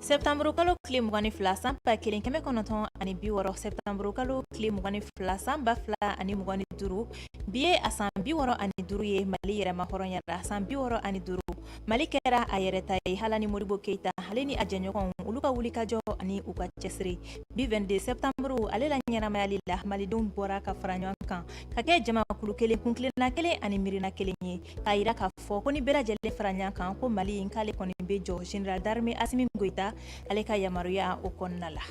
Sɛtanmurukalo tile mugan ni fila san ba kelen kɛmɛ kɔnɔntɔn ani bi wɔɔrɔ sɛtanmurukalo tile mugan ni fila san ba fila ani mugan ni duuru bi ye a san bi wɔɔrɔ ani duuru ye mali yɛrɛma hɔrɔnyara san bi wɔɔrɔ ani duuru mali kɛra a yɛrɛ ta ye hala ni modibo keyita ale ni a jɛɲɔgɔn olu ka wulikajɔ ani u ka cɛsiri bi 22 septembre ale la ɲɛnamayali la malidenw bɔra ka fara ɲɔgɔn kan ka kɛ jamakulu kelen kuntilenna kelen ani miirina kelen ye k'a jira ka fɔ ko ni bɛɛ lajɛlen fara ɲɔgɔn kan ko mali in k'ale kɔni bɛ jɔ général d'armée asimi goita ale ka yamaruya o kɔnɔna la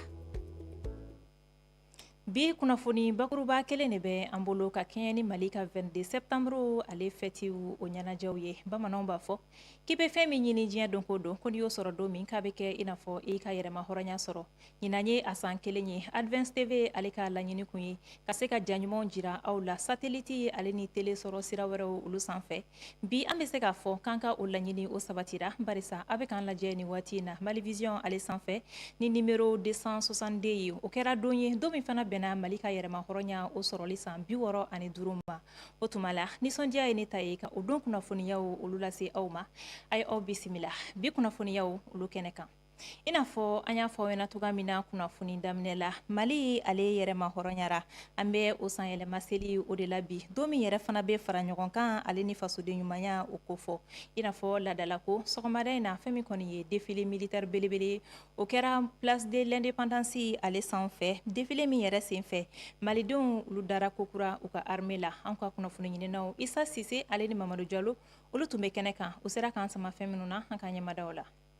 bi kunnafoni bakuruba kelen de bɛ an bolo ka kɛɲɛ ni mali ka 22 septembre ale fɛtiw o ɲɛnajɛw ye bamananw b'a fɔ k'i bɛ fɛn min ɲini diɲɛ don ko don ko n'i y'o sɔrɔ don min k'a bɛ kɛ i n'a fɔ i ka yɛrɛma hɔrɔnya sɔrɔ Ɲinan ye a san kelen ye advance tv ale ka laɲini kun ye ka se ka ja ɲumanw jira aw la satellite ale ni tele sɔrɔ sira wɛrɛw olu sanfɛ bi an bɛ se k'a fɔ k'an ka o laɲini o sabatira barisa aw bɛ k'an lajɛ ni waati in na malivision ale sanfɛ ni numero 262 ye o kɛra don ye don min fana bɛnna mali ka yɛrɛma hɔrɔnya o sɔrɔli san bi wɔɔrɔ ani duuru ma o tuma la nisɔndiya ye ne ta ye ka o don kunnafoniyaw olu lase aw ma a ye aw bisimila bi kunnafoniyaw olu kɛnɛ kan i n'a fɔ an y'a fɔ aw ɲɛna cogoya min na kunnafoni daminɛ la mali ale yɛrɛma hɔrɔnyara an bɛ o san yɛlɛma seli o de la bi don min yɛrɛ fana bɛ fara ɲɔgɔn kan ale ni fasoden ɲumanya o kofɔ i n'a fɔ laadala ko sɔgɔmada in na fɛn min kɔni ye defile militaire belebele o kɛra place de l'independance ale sanfɛ defile min yɛrɛ senfɛ malidenw olu dara kokura u ka armée la an ka kunnafoni ɲininaw isa sise ale ni mamadu jalo olu tun bɛ kɛnɛ kan u sera k'an sama fɛn minnu na an ka ɲɛmada u la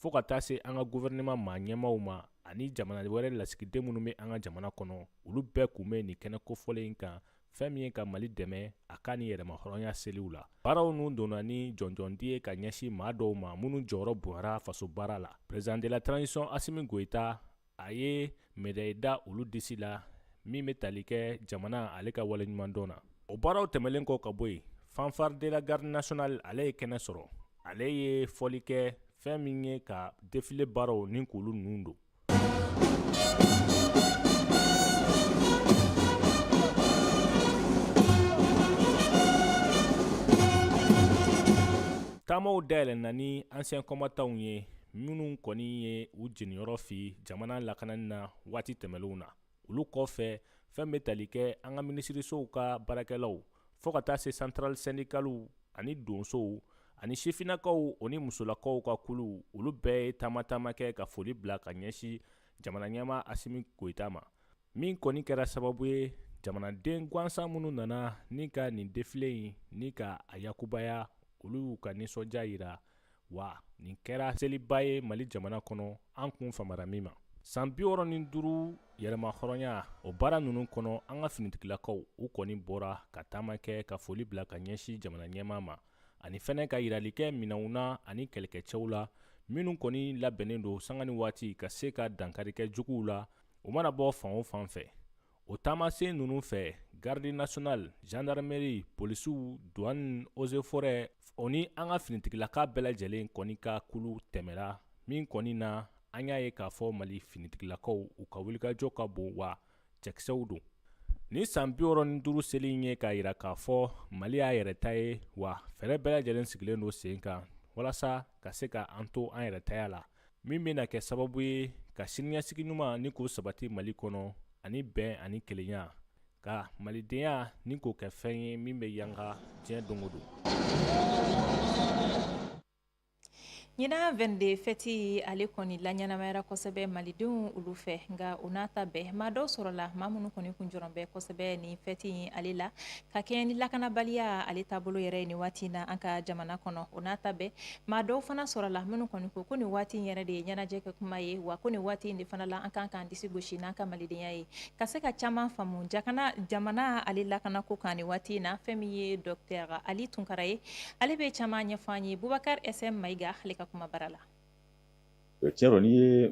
fɔɔ ka taa se an ka gouvernement maa ɲɛmaaw ma ani jamana wɛrɛ lasigiden minnu bɛ an ka jamana kɔnɔ olu bɛɛ kun bɛ nin kɛnɛ kofɔlen in kan fɛn min ye ka mali dɛmɛ a ka nin yɛrɛmahɔrɔnya seliw la baaraw ninnu donna ni jɔnjɔndi ye ka ɲɛsin maa dɔw ma minnu jɔyɔrɔ bonyara faso baara la president de la transition asimi goyita a ye medayi da olu disi la min bɛ tali kɛ jamana ale ka waleɲumandɔn na o baaraw tɛmɛnlen kɔ ka bɔ yen fanfare de la garde nationale ale ye kɛnɛ sɔrɔ ale ye fɔli kɛ fɛn min ye ka defile baaraw ni k'olu ninnu don taamaw dayɛlɛnna ni anciens combattants ye minnu kɔni ye u jeniyɔrɔ fin jamana lakanani na waati tɛmɛnlenw na olu kɔfɛ fɛn bɛ tali kɛ an ka minisirisow ka baarakɛlaw fɔɔ ka taa se santurali sɛndikaliw ani donsow ani sifinakaw o ni musolakaw ka kuluw olu bɛɛ ye taama taama kɛ ka foli bila ka ɲɛsin jamana ɲɛmaa asimi goyita ma min kɔni kɛra sababu ye jamanaden gansan minnu nana ni ka nin defile in ni ka a yakubaya olu y'u ka nisɔndiya jira wa nin kɛra seliba ye mali jamana kɔnɔ an kun famara min ma san biwɔɔrɔ ni duuru yɛrɛmahɔrɔnya o baara ninnu kɔnɔ an ka finitigilakaw u kɔni bɔra ka taama kɛ ka foli bila ka ɲɛsin jamana ɲɛmaa ma ani fɛnɛ ka yirali kɛ minɛnw na ani kɛlɛkɛcɛw la minnu kɔni labɛnnen don sanga ni waati ka se ka dankari kɛ juguw la u mana bɔ fan o fan fɛ o taamasen ninnu fɛ garde nationale gendarmerie polisiw douane eaux et forêts o ni an ka finitigilaka bɛɛ lajɛlen kɔni ka kulu tɛmɛra min kɔni na an y'a ye k'a fɔ mali finitigilakaw u ka wulikajɔ ka bon wa cɛkisɛw don ni san biwɔɔrɔ ni duuru seli in ye k'a yira k'a fɔ mali y'a yɛrɛ ta ye wa fɛɛrɛ bɛɛ lajɛlen sigilen don sen kan walasa ka se ka an to an yɛrɛtaya la min bɛna kɛ sababu ye ka siniɲɛsigi ɲuman ni k'o sabati mali kɔnɔ ani bɛn ani kelenya ka malidenya ni k'o kɛ fɛn ye min bɛ yanga diɲɛ don o don ɲinan vɛnde fɛti ale kɔni laɲɛnamayara kosɛbɛ malidenw olu fɛ nka o n'a ta bɛɛ maa dɔw sɔrɔla maa minnu kɔni kun jɔrɔn bɛ kosɛbɛ ni fɛti in ale la ka kɛɲɛ ni lakanabaliya ale taabolo yɛrɛ ye nin waati na an ka jamana kɔnɔ o n'a ta bɛɛ maa dɔw fana sɔrɔla minnu kɔni ko ko nin waati in yɛrɛ de ye ɲɛnajɛ kɛ kuma ye wa ko nin waati in de fana la an kan k'an disi gosi n'an ka malidenya ye ka se ka caman faamu jakana jamana ale lakana ko kan nin waati in na fɛn min ye dɔktɛr ali tunkara ye ale bɛ caman ɲɛfɔ an ye bubakar sm mayiga ale ka kumabara la tiɲɛ don n'i ye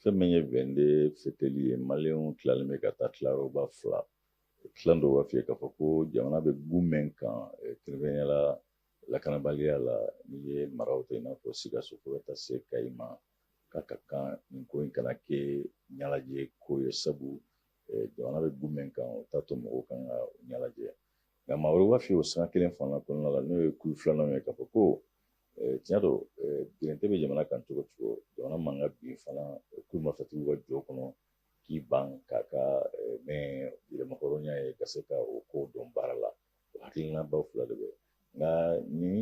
fɛn min ye vɛnde fɛtili ye maliyɛnw tilalen bɛ ka taa tilayɔrɔba fila tilan dɔw b'a f'i ye k'a fɔ ko jamana bɛ gun min kan kɛrɛnkɛrɛnnenya la lakanabaliya la n'i ye maraw ta i n'a fɔ sikaso fo ka taa se kayi ma k'a ka kan nin ko in kana kɛ ɲɛnajɛ ko ye sabu jamana bɛ gun min kan o t'a to mɔgɔw kan ka ɲɛnajɛ nka maa wɛrɛ b'a f'i ye o sanga kelen fana kɔnɔna la n'o ye kulu filanan ye k'a fɔ ko tiɲɛ don gɛrɛntɛ bɛ jamana kan cogo o cogo jamana man ka bin fana kulu marifatigiw ka jɔ kɔnɔ k'i ban k'a ka mɛn yɛrɛmahɔrɔnya ye ka se ka o ko dɔn baara la o hakilinabaw fila de bɛ nka ni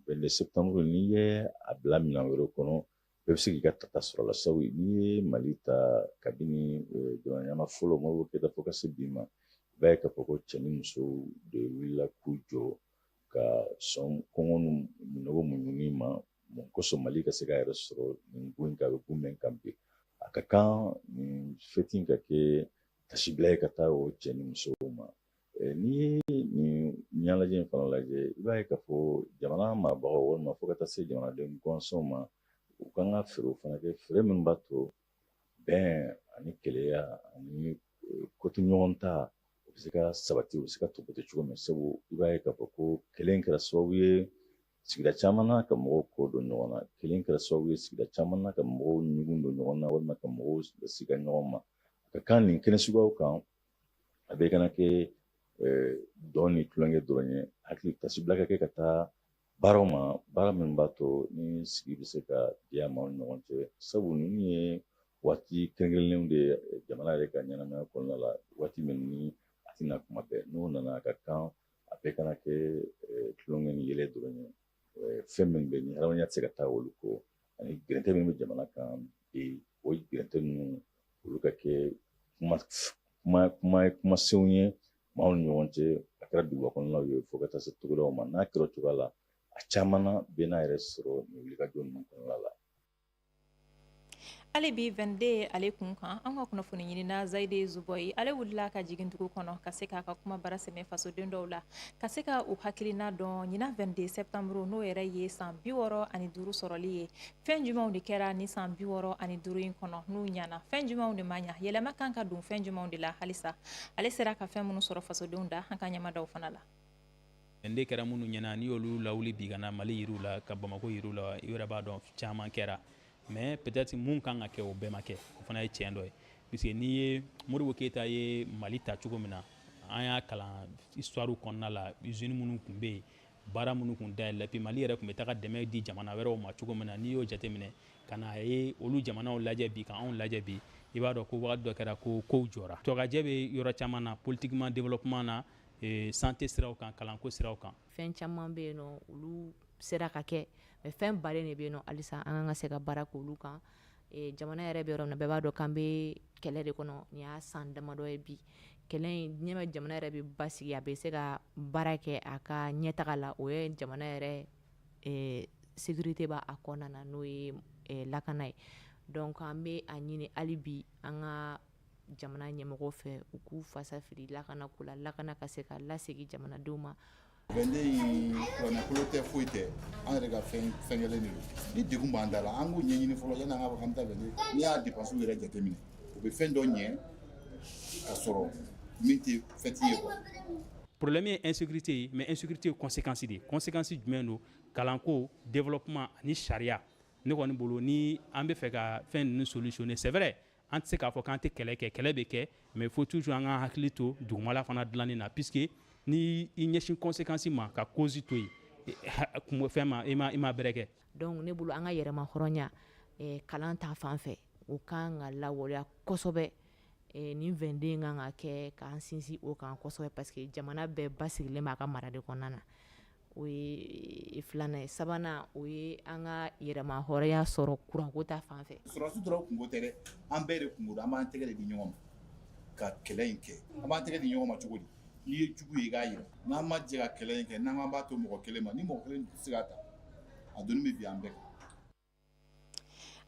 vɛnde septanburu n'i ye a bila minɛn wɛrɛ kɔnɔ bɛɛ bɛ se k'i ka tata sɔrɔ la sabu n'i ye mali ta kabini jamana ɲɛmaa fɔlɔ modibo keyita fo ka se bi ma i b'a ye k'a fɔ ko cɛ ni muso de wulila k'u jɔ ka sɔn kɔngɔ ni minnɔgɔ muɲuni ma mun kosɔn mali ka se k'a yɛrɛ sɔrɔ nin ko in kan a bɛ ko min kan bi a ka kan nin fɛti in ka kɛ taasibila ye ka taa o cɛ ni musow ma n'i ye nin ɲɛnajɛ in fana lajɛ i b'a ye k'a fɔ jamana marabagaw walima fo ka taa se jamanaden gansanw ma u kan ka fɛɛrɛw fana kɛ fɛɛrɛ min b'a to bɛn ani kelenya ani koto ɲɔgɔn ta u bɛ se ka sabati u bɛ se ka tɔpɔtɔ cogo min sabu i b'a ye k'a fɔ ko kɛlɛ in kɛra sababu ye sigida caman na ka mɔgɔw kɔ don ɲɔgɔn na kɛlɛ in kɛra sababu ye sigida caman na ka mɔgɔw ɲugun don ɲɔgɔn na walima ka mɔgɔw siga ɲɔgɔn ma ka kan nin kɛnɛ suguyaw kan a bɛɛ kana kɛ dɔn ni tulonkɛ dɔrɔn ye hakili taasibila ka kɛ ka taa baaraw ma baara min b'a to ni sigi bɛ se ka diya maaw ni ɲɔgɔn cɛ sabu ninnu ye waati kɛrɛnkɛrɛnnenw de ye jamana yɛrɛ ka ɲɛnamaya kɔnɔna la waati min ni a tɛ na tuma bɛɛ n'o nana a ka kan a bɛɛ kana kɛ tulonkɛ ni yɛlɛ dɔrɔn ye fɛn min bɛ ni hadamadenya tɛ se ka taa olu kɔ ani gɛrɛntɛ min bɛ jamana kan bi o gɛrɛntɛ ninnu olu ka kɛ kumasenw ye maaw ni ɲɔgɔn cɛ a kɛra duguba kɔnɔnaw ye fo ka taa se togodaw ma n'a kɛra o cogoya la a caman na bɛ n'a yɛrɛ sɔrɔ nin wulikajɔ ninnu kɔnɔna la hali bi 22 ale kun kan an ka kunnafoni ɲinina zayide zubɔyi ale wulila ka jigin dugu kɔnɔ ka se k'a ka kuma bara sɛmɛ fasoden dɔw la ka se ka u hakilina dɔn ɲinan 22 septembre n'o yɛrɛ ye san bi wɔɔrɔ ani duuru sɔrɔli ye Fɛn jumɛnw de kɛra nin san bi wɔɔrɔ ani duuru in kɔnɔ n'u ɲɛna fɛn jumɛnw de ma ɲɛ yɛlɛma kan ka don fɛn jumɛnw de la halisa ale sera ka fɛn minnu sɔrɔ fasodenw da an ka ɲɛ mada o fana la n de kɛra minnu ɲɛna n'i y'olu lawuli bi ka na mali yir'u la ka bamakɔ yir'u la i yɛrɛ b'a dɔn caman kɛra mais peut-être minnu kan ka kɛ o bɛɛ ma kɛ o fana ye tiɲɛ dɔ ye puisque n'i ye modibo keyita ye mali ta cogo min na an y'a kalan histoire kɔnɔna la usine minnu tun bɛ yen baara minnu kun dayɛlɛla puis mali yɛrɛ tun bɛ taga dɛmɛ di jamana wɛrɛw ma cogo min na n'i y'o jateminɛ ka na a ye olu jamanaw lajɛ bi ka anw lajɛ bi i b'a dɔn ko wagati dɔ kɛra ko kow jɔra blocage bɛ yɔrɔ caman na politiquement développement na e, santé siraw kan kalanko siraw kan fɛn caman bɛ yen nɔ olu sera ka kɛ mais fɛn balen de bɛ yen nɔ halisa an kan ka se ka baara k'olu kan e, jamana yɛrɛ bɛ yɔrɔ min na bɛɛ b'a dɔn k'an bɛ kɛlɛ de kɔnɔ nin y'a san damadɔ ye bi kɛlɛ in ɲɛ bɛ jamana yɛrɛ bɛ basigi a bɛ se ka baara kɛ a ka ɲɛtaga la o ye jamana yɛrɛ sécurité b'a kɔnɔna na n'o ye lakana ye donc an bɛ a ɲini hali bi an ka jamana ɲɛmɔgɔw fɛ u k'u fasafiri lakana ko la lakana ka se ka lasegin jamanadenw ma 22 in kuranɛkolo tɛ foyi tɛ an yɛrɛ ka fɛn kɛlen de don ni degun b'an da la an k'o ɲɛɲini fɔlɔ yanni an ka fɔ k'an bɛ taa 22 n'i y'a depansiw yɛrɛ jateminɛ u bɛ fɛn dɔ ɲɛ ka sɔrɔ min tɛ fɛti ye quoi problème ye insécurité ye mais insécurité ye conséquence de ye conséquence jumɛn don kalanko développement ani sariya ne kɔni bolo ni an bɛ fɛ ka fɛn ninnu solutionner c'est vrai an tɛ se k'a fɔ k'an tɛ kɛlɛ kɛ kɛlɛ bɛ kɛ mais faut toujours an ka hakili to dugumala fana dilanni na puisque ni i ɲɛsin conséquence ma ka cause to yen fɛn ma i ma bɛrɛ kɛ donc ne bolo an ka yɛrɛma hɔrɔnya kalan ta fan fɛ o ka kan ka lawaleya kosɛbɛ nin vingt-deux kan ka kɛ k'an sinsin o kan kosɛbɛ parce que jamana bɛɛ basigilen b'a ka mara de kɔnɔna na o ye filanan ye sabanan o ye an ka yɛrɛma hɔrɔnya sɔrɔ kuranko ta fan fɛ sɔrɔdasi dɔrɔn kunko tɛ dɛ, an bɛɛ de kunko don, an b'an tɛgɛ de di ɲɔgɔn ma ka kɛlɛ in kɛ, an b'an tɛgɛ di ɲɔgɔn ma cogo di? n'i ye jugu ye i k'a yira, n'an ma jɛ ka kɛlɛ in kɛ, n'an k'an b'a to mɔgɔ kelen ma, ni mɔgɔ kelen tɛ se k'a ta, a doni bɛ bin an bɛɛ kan.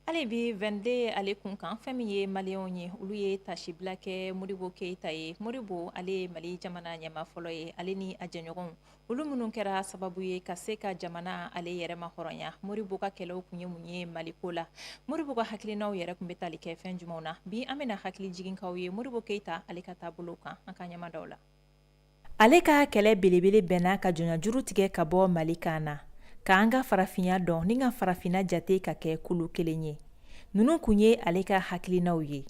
hali bi vingt-deux ale kun kan fɛn min ye maliyɛnw ye olu ye tasibila kɛ modibo keyita ye modibo ale ye mali jamana ɲɛma fɔlɔ ye ale ni a jɛɲɔgɔnw olu minnu kɛra sababu ye ka se ka jamana ale yɛrɛma hɔrɔnya modibo ka kɛlɛw kun ye mun ye maliko la modibo ka hakilinaw yɛrɛ kun bɛ tali kɛ fɛn jumɛnw na bi an bɛna hakili jigin k'aw ye modibo keyita ale ka taabolo kan an ka ɲɛma dɔw la ale ka kɛlɛ belebele bɛnna ka jɔnjuru tigɛ ka bɔ mali kan na k'an ka farafinya dɔn ni ka farafinna jate ka kɛ kulu kelen ye ninnu kun ye ale ka hakilinaw ye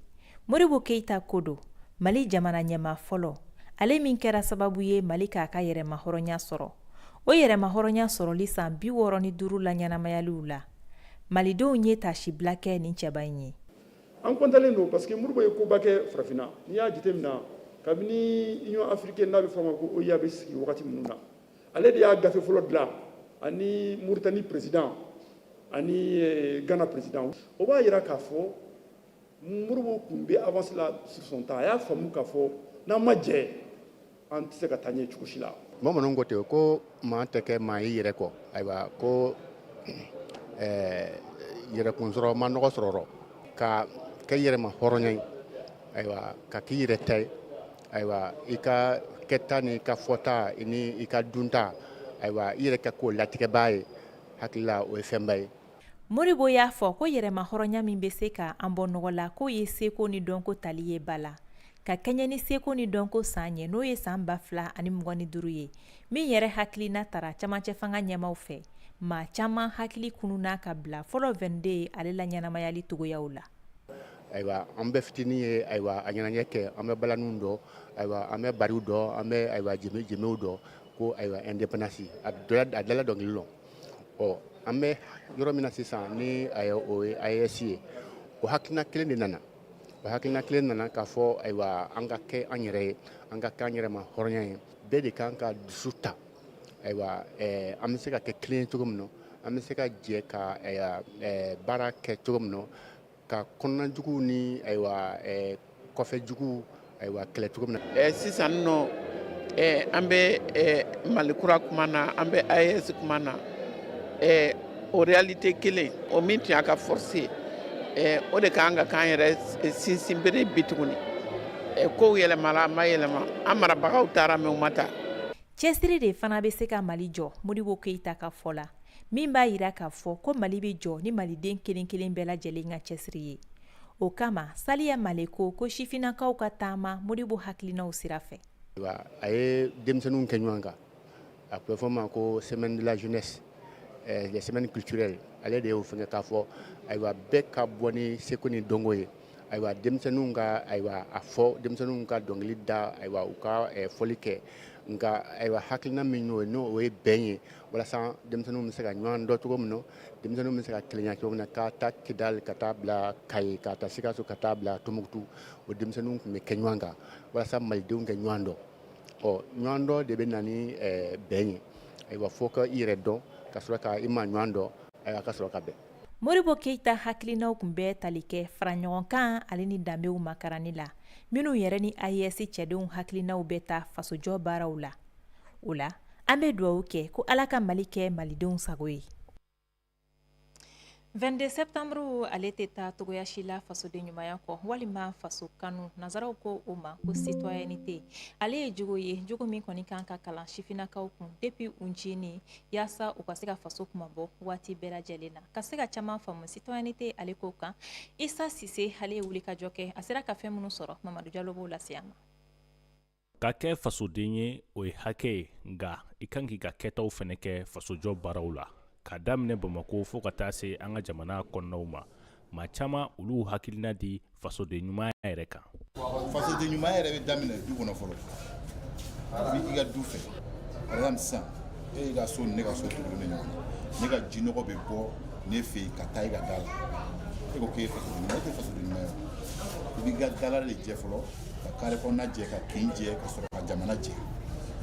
modibo keyita ko don mali jamana ɲɛma fɔlɔ ale min kɛra sababu ye mali k'a ka yɛrɛmahɔrɔnya sɔrɔ o yɛrɛmahɔrɔnya sɔrɔli san bi wɔɔrɔ ni duuru la ɲɛnamayaliw la malidenw ye tasibila kɛ nin cɛba in ye an kɔntalen don parce que modibo ye koba kɛ farafinna n'i y'a jateminɛ kabini union africaine n'a bɛ fɔ a ma ko oua bɛ sigi wagati minnu na ale de y'a gafe fɔlɔ dilan ani mauritanie président ani eh, ghana président o b'a yira k'a fɔ modibo tun bɛ avance la sur son temps a y'a faamu k'a fɔ n'an ma jɛ an tɛ se ka taa ɲɛ cogo si la bamananw ko ten ko maa tɛ kɛ maa y'i yɛrɛ kɔ ayiwa ko eh, yɛrɛkun sɔrɔ ma nɔgɔ sɔrɔ rɔ. ka kɛ yɛrɛma hɔrɔnya ye ayiwa ka k'i yɛrɛ ta ye ayiwa i ka kɛta ni i ka fɔta ni i ka dunta ayiwa i yɛrɛ ka k'o latigɛbaa ye hakili la o ye fɛnba ye modibo y'a fɔ ko yɛrɛmahɔrɔnya min bɛ se ka an bɔ nɔgɔ la k'o ye seko ni dɔnko tali ye ba la ka kɛɲɛ ni seko ni dɔnko san ye n'o ye san ba fila ani mugan ni duuru ye min yɛrɛ hakilina tara cɛmancɛ fanga ɲɛmaw fɛ maa caman hakili kununna ka bila fɔlɔ vingt-deux ye ale laɲɛnamayali cogoyaw la ayiwa an bɛ fitinin ye ayiwa a ɲɛnajɛ kɛ an bɛ balaniw dɔn ayiwa an bɛ bariw dɔn an bɛ ayiwa jenbew dɔn ko ayiwa indépendance a dala dɔnkili la ɔ an bɛ yɔrɔ min na sisan ni o ye aes ye o hakilina kelen de nana O hakilina kelen nana k'a fɔ ayiwa an ka kɛ an yɛrɛ ye an ka kɛ an yɛrɛ ma hɔrɔnya ye bɛɛ de kan ka dusu ta ayiwa ɛɛ an bɛ se ka kɛ kelen ye cogo min na an bɛ se ka jɛ ka ayiwa ɛɛ baara kɛ cogo min na ka kɔnɔnajuguw ni ayiwa ɛɛ kɔfɛjuguw ayiwa kɛlɛ cogo min na sisan nɔ an bɛ mali kura kuma na an bɛ aes kuma na o réalité kelen o min tun y'a ka force ye o de kan ka k'an yɛrɛ sinsinbere bi tuguni kow yɛlɛmala a ma yɛlɛma an marabagaw taara mais u ma taa cɛsiri de fana bɛ se ka mali jɔ modibo keyita ka fɔ la min b'a jira k'a fɔ ko mali bɛ jɔ ni maliden kelen kelen bɛɛ lajɛlen ka cɛsiri ye o kama saliya male ko ko sifinnakaw ka taama modibo hakilinaw sira fɛ a ye denmisɛnninw kɛ ɲɔgɔn kan a tun bɛ fɔ ma ko semaine de la jeunesse eh, les semaines culturelles ale de y'o fɛngɛ k'a fɔ ayiwa bɛɛ ka bɔ ni seko ni dɔnko ye ayiwa denmisɛnninw ka ayiwa a fɔ denmisɛnninw ka dɔnkili da ayiwa u ka eh, fɔli kɛ nka ayiwa hakilina min y'o ye n'o ye bɛn ye walasa denmisɛnninw bɛ se ka ɲɔgɔn dɔn cogo min na denmisɛnninw bɛ se ka kelenya cogo min na k'a ta kidali ka taa bila kayi k'a ta sikaso ka taa bila tumutu o denmisɛnninw tun bɛ kɛ ɲɔgɔn kan walasa malidenw ka ɲɔgɔn dɔn ɔ ɲɔgɔn dɔn de bɛ na ni eh, bɛn ye ayiwa fo ka i yɛrɛ dɔn ka sɔrɔ ka i ma ɲɔgɔn dɔn ayiwa ka sɔrɔ ka bɛn modibo keyita hakilinaw tun bɛ tali kɛ fara ɲɔgɔn kan ale ni danbew makaranni la minnu yɛrɛ ni aes cɛdenw hakilinaw bɛ taa fasojɔ baaraw la o la an bɛ dugawu kɛ ko ala ka mali kɛ malidenw sago ye 22 septembre ale tɛ taa cogoya si la fasoden ɲumanya kɔ walima faso kanu nansaraw ko o ma ko citoyenneté ale ye jogo ye jogo min kɔni kan ka kalan sifinnakaw kun depuis u ncinin yaasa u ka se ka faso kunmabɔ waati bɛɛ lajɛlen na ka se ka caman faamu citoyenneté ale ko kan isa sise ale ye wulikajɔ kɛ a sera ka fɛn minnu sɔrɔ mamadu jalo b'o lase an ma Ka kɛ fasoden ye o ye hakɛ ye nka i kan k'i ka kɛtaw fɛnɛ kɛ fasojɔ baaraw la ka daminɛ bamakɔ fo ka taa se an ka jamana kɔnɔnaw ma maa caman olu hakilina di fasoden ɲumanya yɛrɛ kan fasoden ɲumanya yɛrɛ bɛ daminɛ du kɔnɔ fɔlɔ i ka du fɛ par exemple sisan e ka so ni ne ka so tugulen ɲɔgɔn na ne ka jinɔgɔ bɛ bɔ ne fɛ yen ka taa i ka da la e ko k'e ye fasoden ɲuman ye e tɛ fasoden ɲuman ye i b'i ka dala de jɛ fɔlɔ ka kare kɔnɔna jɛ ka kin jɛ ka sɔrɔ ka jamana jɛ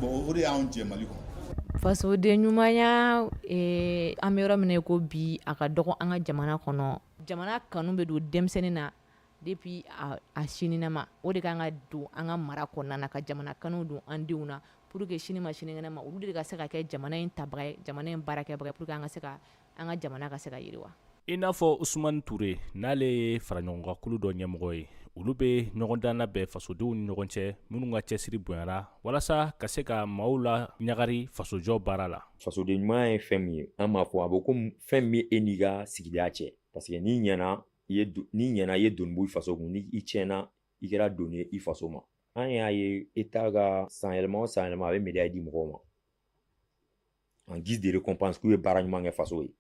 bon o de y'anw jɛ mali kɔnɔ fasoden ɲumanya eh, an bɛ yɔrɔ min na i ko bi a ka dɔgɔ an ka jamana kɔnɔ jamana kanu bɛ don denmisɛnnin na depuis a, a ncininama o de kan ka don an ka mara kɔnɔna na ka jamana kanu don an denw na pour que sini ma sinikɛnɛ ma olu de ka se ka kɛ jamana in tabaga ye jamana in baarakɛbaga ye pour que an ka se ka an ka jamana ka se ka yiriwa i n'a fɔ usumani ture n'ale ye faraɲɔgɔnkakulu dɔ ɲɛmɔgɔ ye olu bɛ ɲɔgɔndan labɛn fasodenw ni ɲɔgɔn cɛ minnu ka cɛsiri bonyara walasa ka se ka maaw laɲagari fasojɔ baara la fasoden ɲuman ye fɛn min ye an b'a fɔ a bɛ ko fɛn min e n'i ka sigida cɛ parce que n'i ɲɛna i ye doni bɔ i faso kun ni i tiɲɛna i kɛra doni ye i faso ma an y'a ye état ka sanyɛlɛma o sanyɛlɛma a bɛ médaille di mɔgɔw ma en guise de récompense k'u ye baara ɲuman kɛ faso ye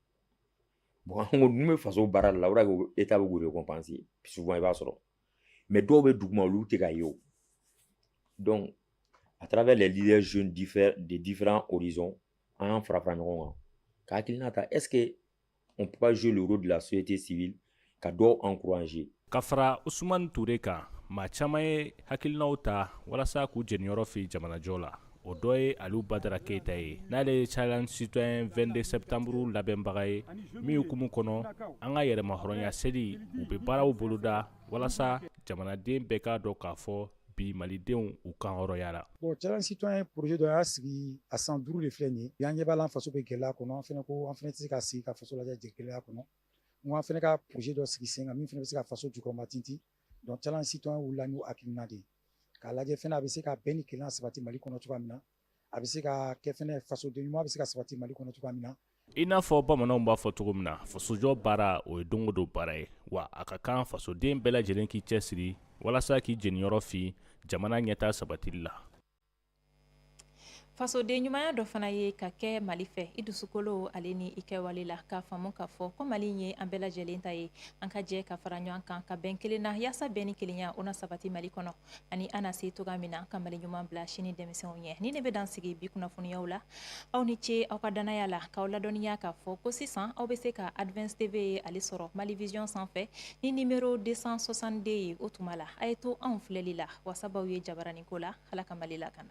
bon an ko n'u bɛ faso baara de la o de ko état bɛ k'u récompenser souvent i b'a sɔrɔ mais dɔw bɛ duguma olu tɛ ka ye o donc à travers les leaders jeunes de différents horizons an y'an fara fara ɲɔgɔn kan ka hakilina ta est ce que On peut pas jouer le rôle de la société civile ka dɔw encourager. Ka fara Ousmane Toure kan, maa caman ye hakilinaw ta walasa k'u jɛniyɔrɔ fin jamanajɔ la. O dɔ ye Aliou Badara Keyita ye, n'ale ye Challenge Citoyen 22 septembre labɛnbaga ye, min hukumu kɔnɔ an ka yɛrɛmahɔrɔnya seli, u bɛ baaraw boloda walasa jamanaden bɛɛ k'a dɔn k'a fɔ bi malidenw u kan hɔrɔnyara bon challenge citoyen ye projet dɔ y'a sigi a san duuru de filɛ nin ye y'an ɲɛ b'a la an faso bɛ gɛlɛya kɔnɔ an fɛnɛ ko an fɛnɛ tɛ se ka sigi ka faso lajɛ gɛlɛya kɔnɔ n ko an fɛnɛ ka projet dɔ sigi sen kan min fɛnɛ bɛ se ka faso jukɔrɔma tintin donc challenge citoyen wulila n'o hakilina de ye k'a lajɛ fɛnɛ a bɛ se ka bɛn ni kelenya sabati mali kɔnɔ cogoya min na A bɛ se ka kɛ fɛnɛ fasoden ɲuman bɛ se ka sabati Mali kɔnɔ cogoya min na. I n'a fɔ bamananw b'a fɔ cogo min na fasojɔ baara o ye don o don baara ye wa a ka kan fasoden bɛɛ lajɛlen k'i cɛsiri walasa k'i jeniyɔrɔ fin jamana ɲɛtaa sabatili la. fasoden ɲumanya dɔ fana ye ka kɛ mali fɛ i dusukolo ale ni i kɛwale la k'a faamu k'a fɔ ko mali ye an bɛɛ lajɛlen ta ye an ka jɛ ka fara ɲɔgɔn kan ka bɛn kelen na yaasa bɛn ni kelenya o na sabati mali kɔnɔ ani an na se cogoya min na ka mali ɲuman bila sini denmisɛnw ɲɛ nin de bɛ dan sigi bi kunnafoniyaw la aw ni ce aw ka dannaya la k'aw ladɔnniya k'a fɔ ko sisan aw bɛ se ka advance tv ye ale sɔrɔ mali vision sanfɛ ni nimero 262 ye o tuma la a ye to anw filɛli la wasa b'aw ye jabaranin ko la ala ka mali lakana